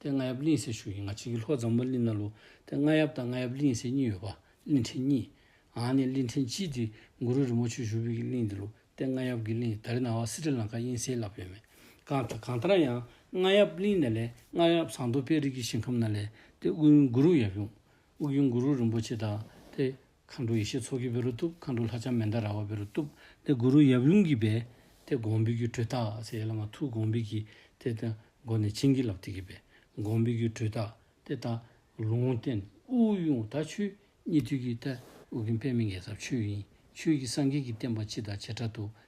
དེ་རྔ་ཡབ་གླིང་སའི་ཤུལ་ཡིན་ང་གཅིག་གིས་ལྷོ་རྫོང་མོ་གླིང་ན་ལུག་དེ་རྔ་ཡབ་དང་རྔ་ཡབ་གླིང་སའི་གཉིས་ཡོད་པ་གླིང་ཕྲན་གཉིས། ཨང་ནི་གླིང་ཕྲན་གཅིག་དེ་མགུ་རུ་རི་མོ་ཆུ་ཤུར་བུས་ཀྱི་གླིང་དེ་ལུག་དེ་རྔ་ཡབ་ཀྱི་གླིང་དརི་ན་བ་སྲི་ཏྲི་ལང་ཀ་དབྱིན་སའི་ལབ་ཡོད་མེད་གང་ལྟར་གང་ལྟར་ཡང་རྔ་ཡབ་གླིང་ན་ལས་རྔ་ཡབ་ཟངས་མདོག་དཔལ་རིགས་ཀྱི་ཞིང་ཁམས་ན་ལས་དེ་དབུས་གཡུང་མགུ་རུ་ཡབ་གཡུང་དབུས་གཡུང་མགུ་རུ་རིན་པོ་ཆེ་དང་དེ་མཁའ་འགྲོ་ཡེ་ཤེས་ཚོགས་ཀྱི་བེ་རུ་གཏུབ་མཁའ་འགྲོ་ལྷ་ལྕམ་མན་དཱ་ར་བ་བེ་རུ་གཏུབ། ཏེ་གུ་རུ་ཡབ་ཡུམ་གྱི་བེ། ཏེ་དགོངས་འབེལ་གྱི་འཕྲུལ་རྟགས་ཚེ་ལ་མ་ཐུག་དགོངས་འབེལ་གྱི། ཏེ་ཏེ་མགོ་ནས་བྱིན་གྱིས་བརླབས་ཏེ་གི་བེ། དགོངས་འབེལ་གྱི་འཕྲུལ་རྟགས་ཏེ་ཏཱ། ལུང་བསྟན་དབུགས་དབྱུང་ད་ཆུ་གཉིས་དུས་ཀྱི་ཏཱ། དབུགས་ཀྱི་འཕེལ་མེད་ངེས་ཚབས་ཆུ་ཡིན། ཆུ་ཡི་སངས་རྒྱས་ཀྱི་བསྟན་པ་སྤྱི་དང་བྱེ་བྲག་ཏུ།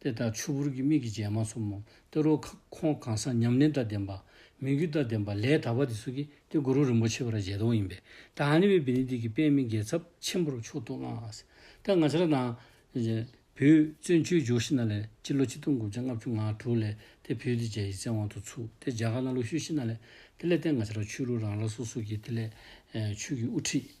དེ་ལྟར་ཆུ་བུར་གྱི་མིག་གིས་མཇལ་མ་ཆོམ་མོ་སྟེ་རོ། ཁོང་གང་ཟག་ཉམས་ལེན་དང་ལྡན་པ། མི་འགྱུར་དང་ལྡན་པ་ལས་དག་པ་དེ་ཚོ་གིས་ཏེ་གུ་རུ་རིན་པོ་ཆེ་བ་ར་ཇེ་དོང་ཡིན་པས་ཏེ་ཨ་ནེ་བའི་བི་ནི་ཏི་ཀི་པད་མའི་འགལ་ཚབ་ཆེན་པོར་མཆོག་ཏུ་བསྔགས། ཏེ་ང་ཅཱ་ར་ནཱ། བུའི་བཙུན་ཆོས་འབྱུང་ཤི་ན་ལས་སྤྱི་ལོ་ཆིག་སྟོང་དགུ་བརྒྱ་ལྔ་བཅུ་ང་དྲུག་ལས་ཏེ་བུའི་ཏི་ཇའི་ཡི་ཚེ་དབང་དུ་ཚུགས་ཏེ་རྒྱ་གར་ན་ལོ་ཤུལ་ཤི་ན་ལས་དེ་ལས་ཏེ་ང་ཅཱ་ར་ཆོས་ལུགས་རང་རང་སོ་སོ་གིས་དེ་ལས་ཆོས་ཀྱི་དབུ་ཁྲིད།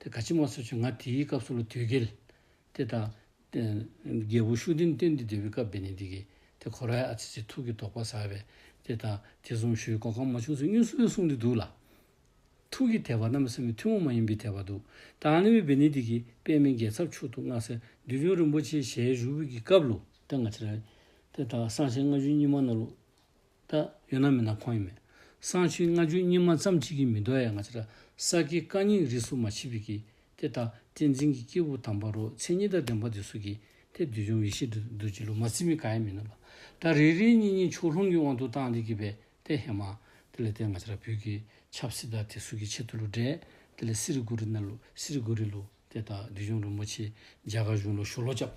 དེ་དགའ་ཕྱི་མ་སོ་ཆུ་ང་དེའི་སྐབས་སུ་ལོ་དུས་བརྒལ། དེ་དང། རྒྱལ་པོ་ཤུགས་ལྡན་བསྟན་འདི་འདི་བའི་སྐབས་འདི་ནས་འདི་གི། དེ་གོ་རའི་ཨ་ཙི་ཙི་ཐུགས་ཀྱི་དོགས་པ་ཟ་བས། དེ་དང། དེ་གསུམ་ཞུའི་གོ་ཁ་མ་བྱུང་ཚུལ་གཉུག་སྲོལ་གསུངས་འདི་འདུག་ལ། ཐུགས་ཀྱི་དད་པ་རྣམ་གསུམ་མི་ཐུན་མོང་མ་ཡིན་པའི་དད་པ་འདུག་ཏཱ་ལའི་བའི་བི་ནི་འདི་གི་པདྨའི་རྒྱལ་ཚབ་མཆོག་ཏུ་མངའ་སའི་འདུལ་སྦྱོང་རིན་པོ་ཆེའི་ཞལ་བཞུགས་གི་སྐབས་ལོ། དེ་སྔ་ཕྱི་རབས། དེ་དང། སང་ཞལ་ལྔ་བཅུའི་སྙིགས་མ་ནོར་ལུགས། ད་ཡོད་ན་མེད་ན་ཁོང་ཡིན་མེད། སང་ཕྱིན་ལྔ་བཅུའི་སྙིགས་མ་ཙམ་གཅིག་གིས་མི་འདོར་ཡ་ང་ཅི་ར་ས་དགེ་བཀའ་རྙིང་རིས་སུ་མ་མཆིས་པས་ཀྱི་དེ་ད་བསྟན་འཛིན་གྱི་སྐྱེས་བུ་དམ་པ་རོ་མཚན་ཉིད་ད་བདེན་པ་དེ་སུ་གྱི་དེ་བདུད་འཇོམས་ཡེ་ཤེས་དུ་འདུལ་བྱེད་ལུགས་མ་ཚིག་མི་ག་ཡ་མིན་ནོ་ལ་ད་རེ་རེའི་གཉིས་གཉིས་ཕྱོགས་ལྷུང་གི་དབང་དུ་བཏང་དེ་གྱི་བས་དེ་ཧེ་མ་དེ་ལས་དེ་ང་ཅི་ར་བོད་ཀྱི་ཆབ་སྲིད་ད་དེ་སུ་གྱི་ཆེད་དུ་ལུགས་འབྲས་དེ་ལས་སི་རི་གུ་རི་ན་ལུགས་སི་རི་གུ་རི་ལུགས་དེ་ད་བདུད་འཇོམས་རིན་པོ་ཆེ་རྒྱ་གར་གཞུང་ལུགས་ཞོ་ལོ་སྐྱབས།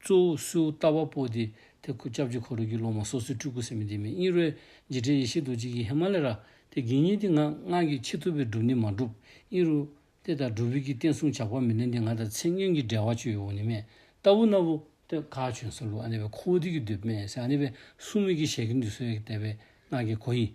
གཙོ་བོ་སུའུ་ལྟ་བ་པོ་དེ་དེ་ཁུ་ཅབ་ཅི་ཁོ་རུ་རྒྱུ་སློང་མ་སོ་སོའི་སྤྲུལ་སྐུ་སེམས་མེད་འདི་མེད་གཉིས་རོའི་རྗེས་དྲན་ཡེ་ཤེས་རྡོ་རྗེ་ཀྱི་ཧེ་མ་ལེ་ར་དེ་དགེ་བསྙེན་འདི་ང་སྔགས་ཀྱི་ཆེད་ཐུབ་པའི་སྒྲུབ་ནི་མ་བསྒྲུབ་གཉིས་རུ་དེ་དང་སྒྲུབ་བུ་ཀྱི་བསྟན་སྲུང་ཇག་པ་མི་ལེན་འདི་ང་དང་མཚན་སྙན་གྱི་འབྲེལ་བ་ཅུ་ཡོ་བོ་ནི་མེད་ལྟ་བུ་ན་བུ་དེ་ག་བྱོན་སོ་ལུ་ཨ་ནེ་བའི་ཁོ་བོ་དེ་ཀྱི་འདོད་པས་སེ་ཨ་ནེ་བའི་སྲུང་མེད་ཀྱི་ཞལ་གྱི་འདུས་སོའི་དད་པའི་སྔགས་ཀྱི་གོ་ཡིས།